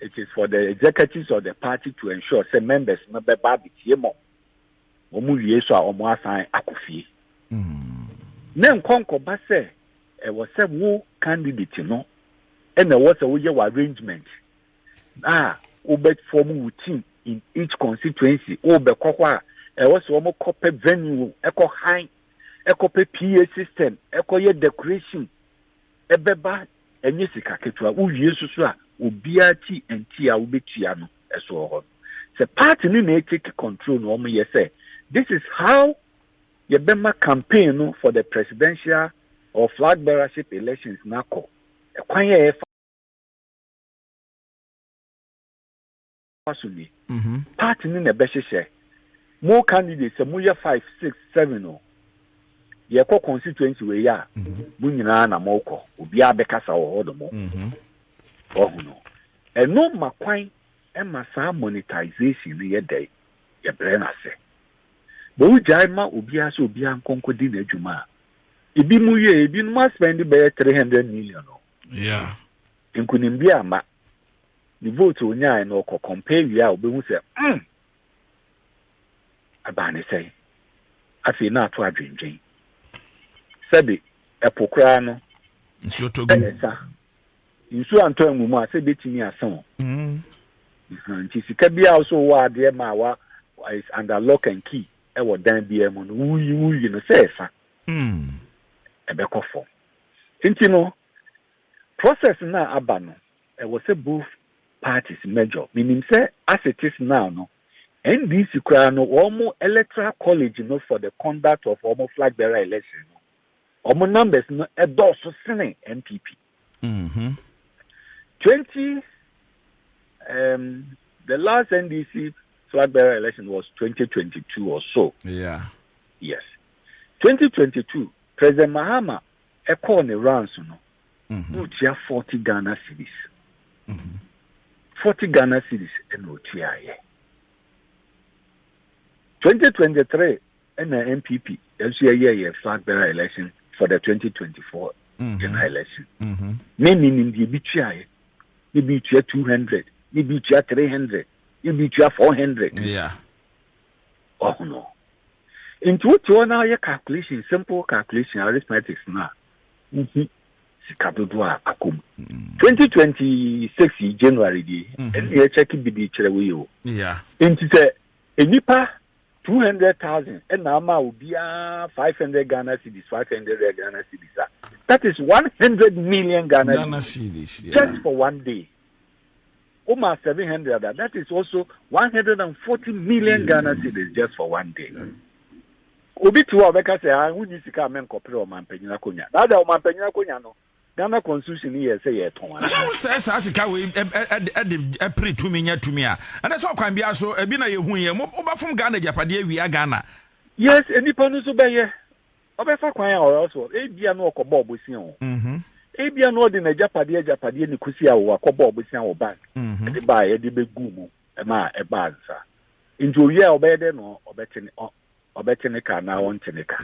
it is for the executives of the party to ensure sɛ members no bɛba abɛtie mo. Ɔmo wie nso a ɔmo asan akɔ fie. Ne nkɔ nkɔba sɛ ɛwɔ sɛ wo candidate no ɛna ɛwɔ sɛ woyɛ wɔ arrangement a wobɛ form wo team in each constituency wo bɛ kɔ hɔ a ɛwɔ sɛ wɔn kɔ pɛ venue ɛkɔ han ɛkɔ pɛ PA system ɛkɔ yɛ decoration ɛbɛba ɛnyɛ sika ketewa wo wie soso a obiara ti nti a wobɛtua no ɛso wɔ hɔ no sɛ party no na take control na wɔn yɛ sɛ this is how yɛbɛma campaign no for the presidential or flag bearership elections na kɔ ɛkwan yɛ ɛfa fa so ni. Mhm. Party no na ɛbɛhyehyɛ mo candidate sɛ moyɛ five six seven o yɛkɔ constituency wei a mhm. mo nyinaa na mokɔ obiara bɛkasa wɔ hɔ nom mhm. wahu no ɛno ma kwan ma saa monetization no yɛ dɛ yɛbrɛ no ase bɛ wogyae ma obiara sɛ obiara nkɔnkɔ di n'adwuma a ebi mu wie ebinom aspɛn de bɛyɛ three hundred million o Nkunimdie amma. Ne vote a ɔnyaaɛ no ɔkɔ compare wie a ɔbɛhu sɛ mm! Ɛbaa ne sɛn? Afei na ato adwendwen. Sɛbe ɛpo koraa no sɛ ɛsa, nsuo antɔ angu mu a sɛ ɛbɛtumi asa o. Nti sika biara wo sɛ wowɔ adeɛ ma wa is under lock and key ɛwɔ dan biara mu no woyi woyi no sɛ ɛsa ɛbɛkɔ fam. Nti no Process no a aba no ɛwɔ sɛ both parties major menim sɛ as it is now no NDC koraa no wɔn electoral college no for the conduct of wɔn flag bearer election no wɔn numbers no ɛdɔɔso sene NPP. Mm -hmm. 20 um, the last NDC flag bearer election was 2022 or so. Yeah. Yes. 2022, President Mahama ɛkɔɔ ne runs no, na otua forty Ghana cedis. Forty Ghana cedis na otuaeɛ. Twenty twenty three na NPP nso yɛyɛ yɛ flag bearer election for the twenty twenty four mhm. general election. Mhm. Ne ne nim deɛ ebi tuaeɛ, ne bi tua two hundred, ne bi tua three hundred, ne bi tua four hundred. Yeah. Wahu no. Nti wote hɔ na woyɛ calculation, simple calculation, arithmetics no a, wohu sika dodoɔ a akɔ mu. 2026 yi January die, ɛne yɛkyɛke bi de kyerɛ wo yi o. Nti sɛ nnipa 200,000 ɛna ama obiara 500 Ghana cedis, 500 Ghana cedis a, that is 100 million Ghana cedis just for one day. wo ma seven hundred a that is also one hundred and forty million ghana cedis just for one day obi ti hɔ a ɔbɛka sɛ ah wonni sika a menkɔpere ɔmampanyin akonnwa na ada ɔmampanyin akonnwa no ghana constitution no yɛ sɛ yɛtɔn ara sɛ wosɛe saa sika wei de pere tumi nya tumi a ɛnɛ sɛ ɔkwan biara so ebi na yɛhu yɛ wobɛfom ghana agyapadeɛ awia ghana yes nnipa no nso bɛyɛ Ɔbɛfa kwan a or else what? Ebia na ɔkɔbɔɔ bosea o. Ebia na ɔde n'agyapadeɛ agyapadeɛ ne kusia o akɔbɔɔ bosea wɔ bank de baeɛ ɛde bɛguu mu ma ɛbaa nsa. Nti ɔwieɛ a ɔbɛyɛ dɛn na ɔbɛte ne ɔ ɔbɛte ne ka anaa ɔnte ne ka.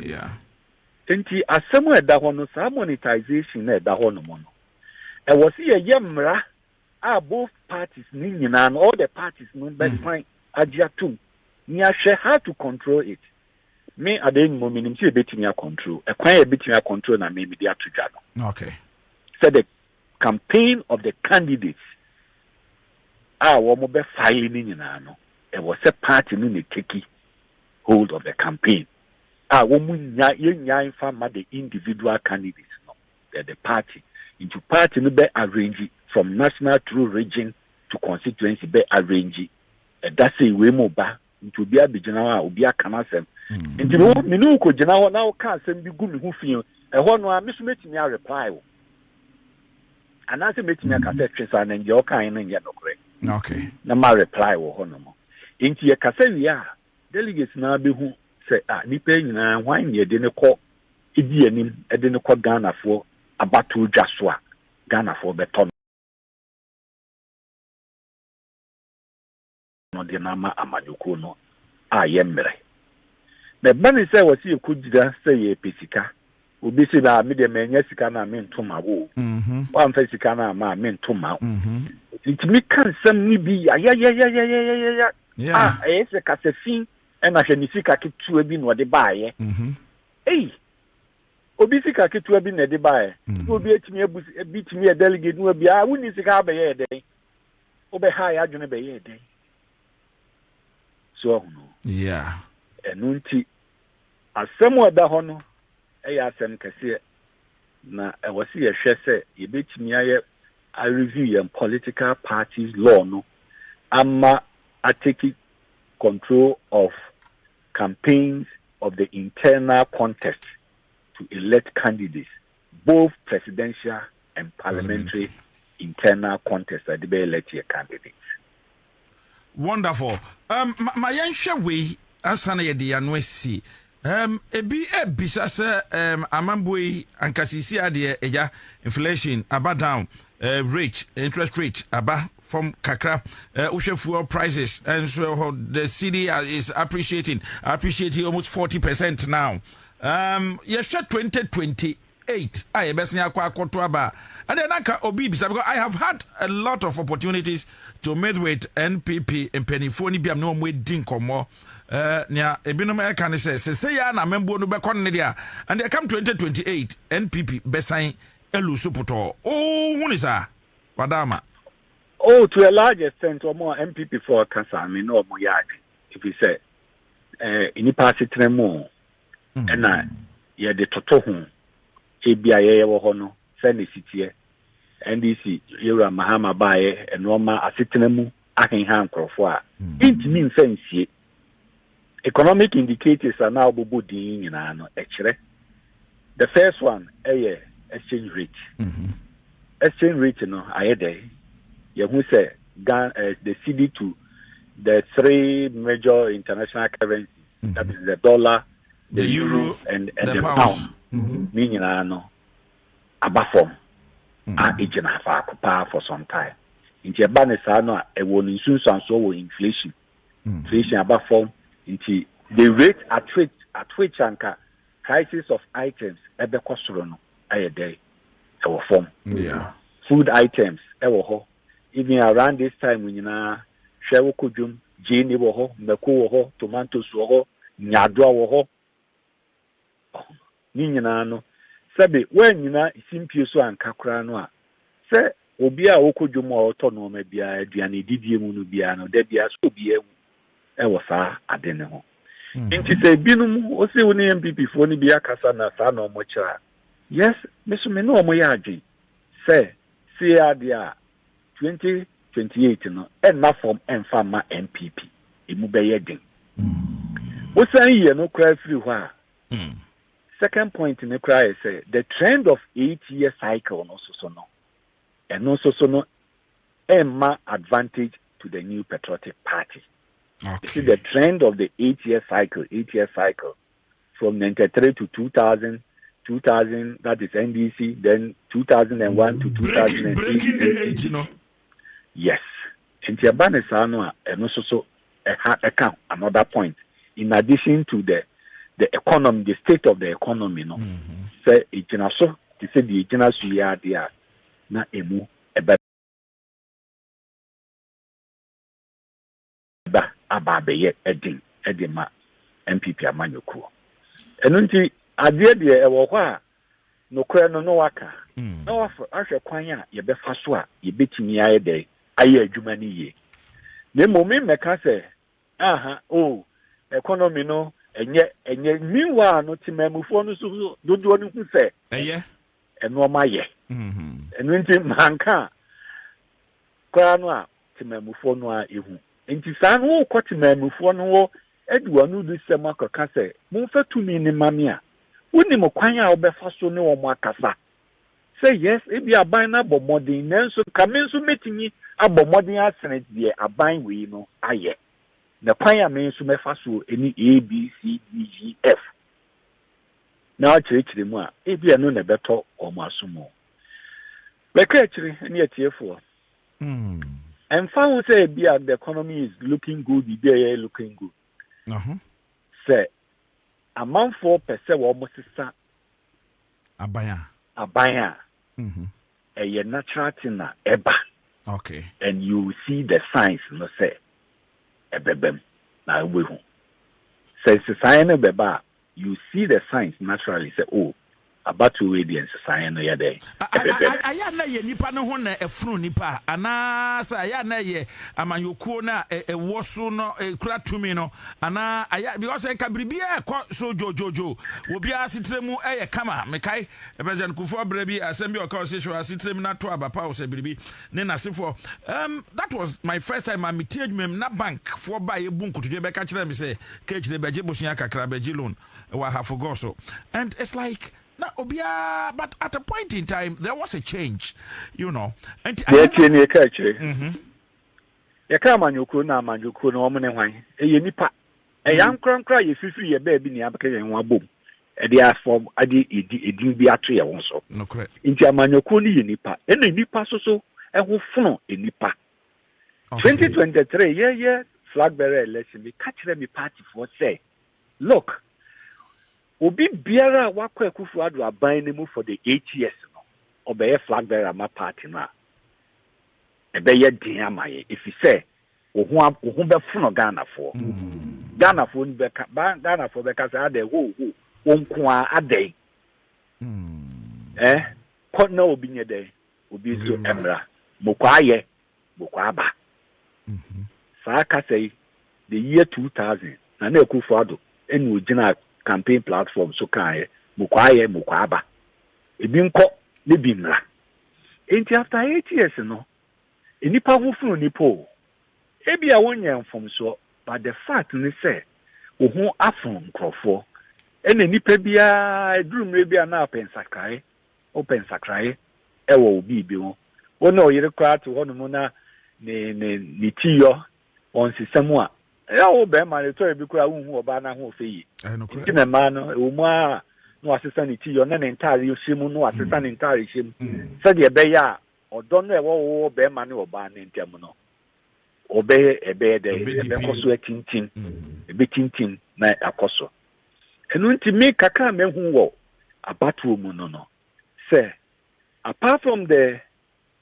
Nti asɛm a ɛda hɔ no saa monetization no a ɛda hɔ nom no ɛwɔ se yɛyɛ mmara a both parties no nyinaa no all the parties no bɛsan agye atom ne ahwɛ how to control it. Me adeɛ no mu menim sɛ yɛbɛtumi akɔntro ɛkwan a yɛbɛtumi akɔntro na me mede ato dwa no okay. sɛ the campaign of the candidates a wɔn bɛ file no nyinaa no ɛwɔ sɛ party no na teki hold of the campaign a wɔn nya yɛnya nfa ma the individual candidates no the, the party into party no bɛ arrange from national through region to constituency bɛ arrange ɛda sɛ wei mu ba nti obi abɛgyina hɔ a obi aka no asɛm nti wo me ne wokɔgyina hɔ na woka asɛm bi gu me ho fie ɛhɔ no a me so mɛtumi areply wo anaasɛ mɛtumi aka sɛ twe saa na ndeɛ wokae no nyɛ nokorɛ na ma reply wɔ hɔ nom nti yɛkasa wie a delegates naa bɛhu sɛ a ah, nnipa nyinaa hwan ne ɛde no kɔ ɛdi anim ɛde no kɔ ghanafoɔ abatoɔ dwa so a ghanafoɔ bɛtɔ no no de no ama amanyɔkuo no a yɛmmrɛ. Na ɛba no sɛ wɔse yɛkɔgyina sɛ yɛrepɛ sika, obi se na me deɛ mannya sika no a mento ma wo o, woamfa sika no amma a mento ma wo. Yɛtumi ka nsɛm no bi yayayayayayaya a ɛyɛ sɛ kasafi ɛna hwɛ ne sika ketewa bi na ɔde baeɛ. Ei! Obi sika ketewa bi na ɛde baeɛ. Na obi atumi abu bi tumi yɛ delegate no bi a wonni sika abɛyɛ dɛn? wobɛhaa yɛ adwene bɛyɛɛ dɛn? So ahu no? Yeah. Ɛno nti, asɛm a ɛda hɔ no yɛ asɛm kɛseɛ, na ɛwɔ sɛ yɛhwɛ sɛ yɛbɛtumi ayɛ a review yɛn political parties law no ama a take control of campaigns of the internal contest to elect candidates. both presidential and parliamentary internal contest a de bɛ elect yɛ candidates. Wonderful. Um, ma, ma yɛnhwɛ wei ansa na yɛde yɛano asi. Um, ebi ebisa sɛ um, amambuo yi ankasisi adeɛ agya inflation aba down uh, rate interest rate aba fam kakra uh, wohwɛ fuel prices and so the city is appreciating appreciating almost 40 percent now Um, yɛhwɛ 2028 a yɛbɛsen akɔ akɔto aba a, ɛdeɛ na nka obi bisa because I have had a lot of opportunities to meet with NPP mpanimfoɔ no bi a ne wɔn adi nkɔmmɔ eh, nea ebinom ɛka ne sɛ sese yɛ na amambuo no bɛkɔ no ne deɛ a and ɛkam 2028 NPP bɛsan elu so potɔɔ ohu ne saa wadaama. Oh, to a large extent, wɔn a NPP foɔ kasa me na wɔn yɛ adwene efi sɛ eh, nnipa asetena mu o ɛna yɛde toto ho ebi a yɛyɛ wɔ hɔ no sɛ ne siteɛ ndc yɛwura mahama baeɛ ɛnoɔma asetena mu aheha nkurɔfoɔ a ɛntumi mfa nsie economic indicators a na wobɔbɔ din nyinaa no ɛkyerɛ The first one ɛyɛ exchange rate. Mm -hmm. Exchange rate no ayɛ dɛ yɛhu sɛ Ghana uh, eh, the CD to the three major international currencies mm -hmm. that is the dollar, the, the euro, euro and, and the, the pound. pound. Mm -hmm. Ne nyinaa no aba fam mm-hmm. a egyina faako paa for some time. Nti ɛba ne saa no a ɛwɔ ne nsunsuansoɔ wɔ inflation. Mm-hmm. Inflation aba fam nti the rate at which at which anka Prices of items bɛkɔ soro no ayɛ dɛn wɔ fam? Food items wɔ hɔ even around this time nyinaa, hwɛ wo kɔ dwom, gyeene wɔ hɔ, mako wɔ hɔ, tomatoes wɔ hɔ, nyadoa wɔ hɔ, ne nyinaa no sɛbe woanyina simpie so anka koraa no a, sɛ obiara a ɔkɔ dwom a ɔtɔ nnoɔma biara, aduane didie mu no biara no, da biara sɛ obiara hu wɔ saa ade no ho. Nti sɛ binom ose wo ne NPP foɔ no bi akasa na saa na wɔn kyerɛ a, yes, me so me ne wɔn yɛ adwen sɛ sie adeɛ a 2028 no ɛnna fam ɛmfa mma NPP, ɛmu bɛyɛ den. Wo san yiɛ no koraa firi hɔ a, second point no koraa yɛ sɛ the trend of eight year cycle no soso no, ɛno soso no ɛmma advantage to the new patriotic party okay. you see the trend of the eight year cycle eight year cycle from 93 to 2000 2000 that is ndc then 2001 to 2008 breaking, breaking the no yes nti ɛba ne saa no a ɛno nso so ɛha ɛka another point in addition to the the economy the state of the economy no mm-hmm. sɛ egyina so te sɛ deɛ egyina so yi adeɛ a na emu ɛbɛba aba abɛyɛ den de ma NPP amanyɔkuo. Ɛno nti adeɛ deɛ ɛwɔ hɔ a nokorɛ no na waka na wahwɛ kwan a yɛbɛfa so a yɛbɛtumi ayɛ dɛ ayɛ adwuma no yie. Na mmom memmɛka sɛ aha o oh, economy no ɛnyɛ ɛnyɛ meanwhile no temamufoɔ no so dodoɔ no hu sɛ ɛyɛ nnoɔma yɛ. Ɛno nti manka a koraa no a temanmufoɔ no ara ɛhu. Nti saa no wokɔ temanmufoɔ no hɔ de w'anodisɛm akɔka sɛ momfa tumi no ma me a, wonim kwan a wobɛfa so ne wɔn akasa sɛ yes ebi aban no abɔ mmɔden nanso ka me nso mɛtumi abɔ mmɔden asene deɛ aban wei no ayɛ na kwan a me nso mɛfa so ne ABCDEF na wɔakyerɛkyerɛ mu a, ebia ɛno na ɛbɛtɔ wɔn aso mu. Bɛka akyiri ne atiefoɔ. Ɛmfa ho sɛ ebia the economy is looking good, biribi a ɛyɛ looking good. Sɛ amanfoɔ pɛ sɛ wɔsesa aban a, aban a mm-hmm. ɛyɛ natural thing na ɛba. Okay. And you see the signs no sɛ ɛbɛbam na wobɛhu. Sɛ nsesaeɛ no bɛba a, You see the signs naturally sɛ oh, abatoɔ wei deɛ nsesaeɛ no yɛ dɛn? Ɛpɛpɛp. Ayɛ a na ɛyɛ nnipa no ho na ɛfono nnipa a, anaasɛ ayɛ a na ɛyɛ amanyɔkuo no a ɛwɔ so no kura tumi no, anaa ayɛ because nka biribiara ɛkɔ so dwodwodwo wɔ obiara asetire mu ɛyɛ kama. Mekae President Kufuor berɛ bi asɛm bi a ɔka ɔse hwɛ w'asetire mu na to aba pa wo sɛ biribi ne n'asefoɔ um that was my first time a metie adwuma mu na bank foɔ baa yɛbu nkotodwe bɛka kyerɛ me sɛ kɛkyire bɛgye bosea kakra bɛgye loan wɔ ahafo gɔ so and it's like na obiara but at a point in time there was a change you know nti ayɛ tie ne yɛka akyire mm-hmm. yɛka amanyɔkuo na amanyɔkuo na wɔn ne hwan ɛyɛ nipa Ɛyɛ ankorankoro a yɛfifiri yɛn baabi na yɛabɛka yɛn ho abom de afɔm de edin bi ato yɛn ho so. Nti amanyɔkuo no yɛ nipa, ɛna nnipa soso ɛho fono nnipa. 2023 yɛyɛ flag bearer election, meka kyerɛ me party foɔ sɛ, look, obi biara a wakɔ akufo ado aban no mu for the eight years no, ɔbɛyɛ flag bearer ma party no a, ɛbɛyɛ den ama yɛn, ɛfiri sɛ Wo ho a wo ho bɛfono Ghanafoɔ. Ghanafoɔ no bɛka ba Ghanafoɔ bɛka sɛ adɛn ho ho wo nko ara adɛn. Eh, kɔ na obi nyɛ dɛn obi nso mmra mokɔ ayɛ mokɔ aba. Saa kasa yi the year 2000 Nana Akufo Addo ɛna ogyina campaign platform so kaeɛ mokɔ ayɛ mokɔ aba ebi nkɔ ne bi mmra. Enti after eight years no Nnipa ho funu nnipa o. Ebia wonyɛɛ mfomsoɔ but the fact ne sɛ wo ho afono nkurɔfoɔ. Ɛna nnipa biara ɛduru mmerɛ bi a na ɔpɛ nsakraeɛ, wopɛ nsakraeɛ ɛwɔ wo biribi ho. Wo ne wo yere koraa te hɔ nom na ne ne ne ti yɔ ɔnsesa mu a, ɛyɛ wo bɛrima no ɛtɔ bi koraa wonhu ɔbaa no ahoɔfɛ yie. Nti na mmaa no ɛwɔ mu ara na wasesa ne ti yɔ na ne ntaare hyɛ mu na wasesa ne ntaare hyɛ mu sɛdeɛ ɛbɛyɛ a Ɔdɔ no a ɛwɔ wɔ ɔbarima ne ɔbaa no ntam no, ɔbɛyɛ ɛbɛyɛ dɛ ɛbɛkɔ so atintim, ɛbɛtintim na akɔ so. Ɛno nti me kakra a mahu wɔ abatoɔ mu no no sɛ apart from the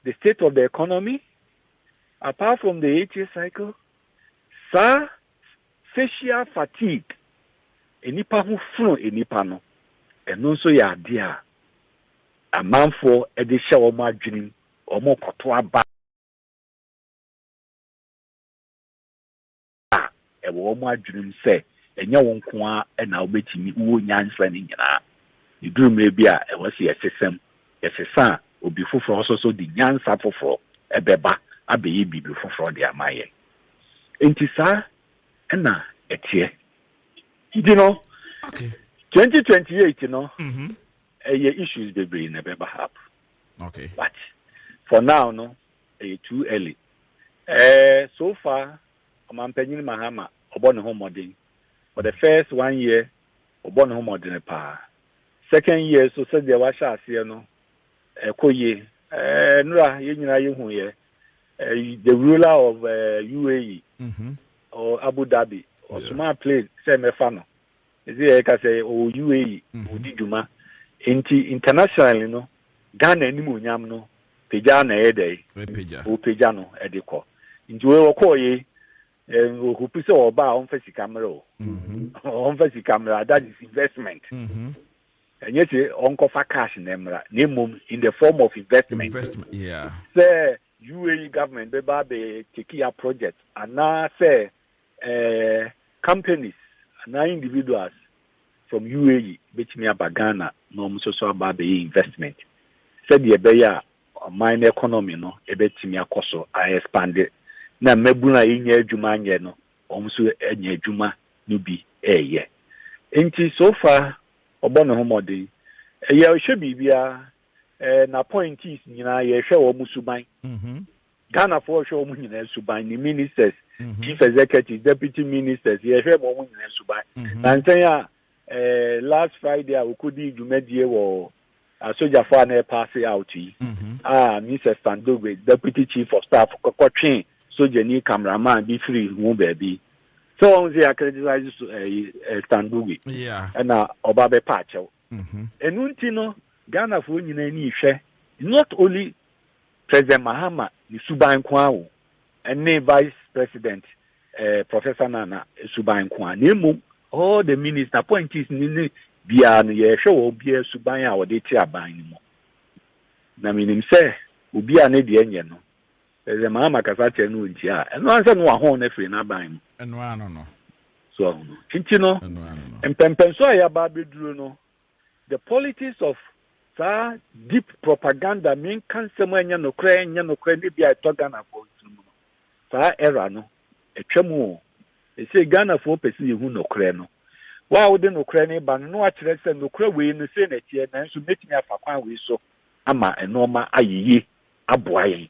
the state of the economy, apart from the eight year cycle, saa Facial fatigue, nnipa ho fono nnipa no, ɛno nso yɛ adeɛ a amanfoɔ de hyɛ wɔn adwenem, wɔkɔto aba a ɛwɔ wɔn adwenem sɛ ɛnyɛ wo nko ara na wobɛtumi, wowɔ nyansa no nyinaa. Ɛduru mmerɛ bi a ɛwɔ sɛ yɛsesa mu, yɛsesa a obi foforɔ nso so de nyansa foforɔ bɛba abɛyɛ biribi foforɔ de ama yɛn. Enti saa na ɛteɛ. Nti no, 2028 no, mm-hmm. ɛyɛ issues bebree na ɛbɛba up. Okay. But for now no, ɛyɛ too early. Uh, so far, ɔmampanyin Mahama ɔbɔ ne ho mmɔden. For the first one year, ɔbɔ ne ho mmɔden paa. Second year so sɛdeɛ wahyɛ aseɛ no, ɛkɔ yie. Ɛɛ nura yɛn nyinaa yɛhu yɛ. The ruler of uh, UAE mm -hmm. or Abu Dhabi or yeah. Suma plane sɛ mɛfa no ɛsɛ yɛ ka sɛ ɔwɔ UAE mm -hmm. ɔdi dwuma nti internationally no Ghana anim onyam no pagya na ɛyɛ dɛ ɔpagya no ɛde kɔ nti wei wɔkɔɔ yei ɔhupu sɛ ɔba a ɔmfa sika mmerɛ o ɔmfa sika mmerɛ that is investment mm -hmm. Ɛnyɛ sɛ ɔnkɔfa cash na ɛmmra, na mmom in the form of investment. Investment, yeah. Sɛ UAE government bɛba abɛ take ya project anaa sɛ eh, companies anaa individuals from UAE bɛtumi aba Ghana na wɔn nso so aba abɛyɛ investment sɛdeɛ ɛbɛyɛ a ɔman no economy no ɛbɛtumi akɔ so a expande na mmabunu a yɛnya adwuma anyɛ no wɔn nso anya adwuma no bi ɛreyɛ. Nti so far Ɔbɔ ne ho mmɔden. Ɛyɛ ɔhwɛ biribiara. Ɛɛ n'appointees nyinaa yɛhwɛ wɔn suban. Mm-hmm. Ghanafoɔ hwɛ wɔn nyinaa suban. Ne ministers, mm-hmm. chief executives, deputy ministers yɛhwɛ wɔn nyinaa suban. Mm-hmm. Nansɛn a ɛɛ last Friday a okodi dwumadie wɔ Asogyafo a na wɔrepaase out yi a Mister Standogwe, Deputy Chief of Staff, kɔtwee sogyani cameraman bi firii ho baabi. Sɛ wahu sɛ yɛakriticize Standogwe na ɔba bɛpa akyɛw. Ɛno nti no, Ghanafoɔ nyinaa ani rehwɛ not only President Mahama ne suban nko ara o, ɛne Vice President eh, Professor Nana suban nko a, na mmom all the ministers, appointees ne ne biara no yɛhwɛ wɔn biara suban a wɔde te aban no mu. Na menim sɛ obi a ne deɛ nyɛ no, sɛ maa makasa kyerɛ no nti a, ɛno ara sɛ no wahɔn no afiri n'aban mu. Ɛno ano no. So ahono. Nti no, mpɛmpɛnso a yɛaba abɛduru no, The politics of saa deep propaganda menka nsɛm a ɛnyɛ nokorɛ ɛnyɛ nokorɛ ne bi a ɛtɔ Ghanafoɔ nso mu no, saa era no atwa mu o. Ɛsei Ghanafoɔ pɛ sɛ yɛhu nokorɛ no. Wo a wode nokorɛ no reba no na woakyerɛ sɛ nokorɛ wei no sei na ɛteɛ nanso mɛtumi afa kwan wei so ama nnoɔma ayɛ yie aboa yɛn.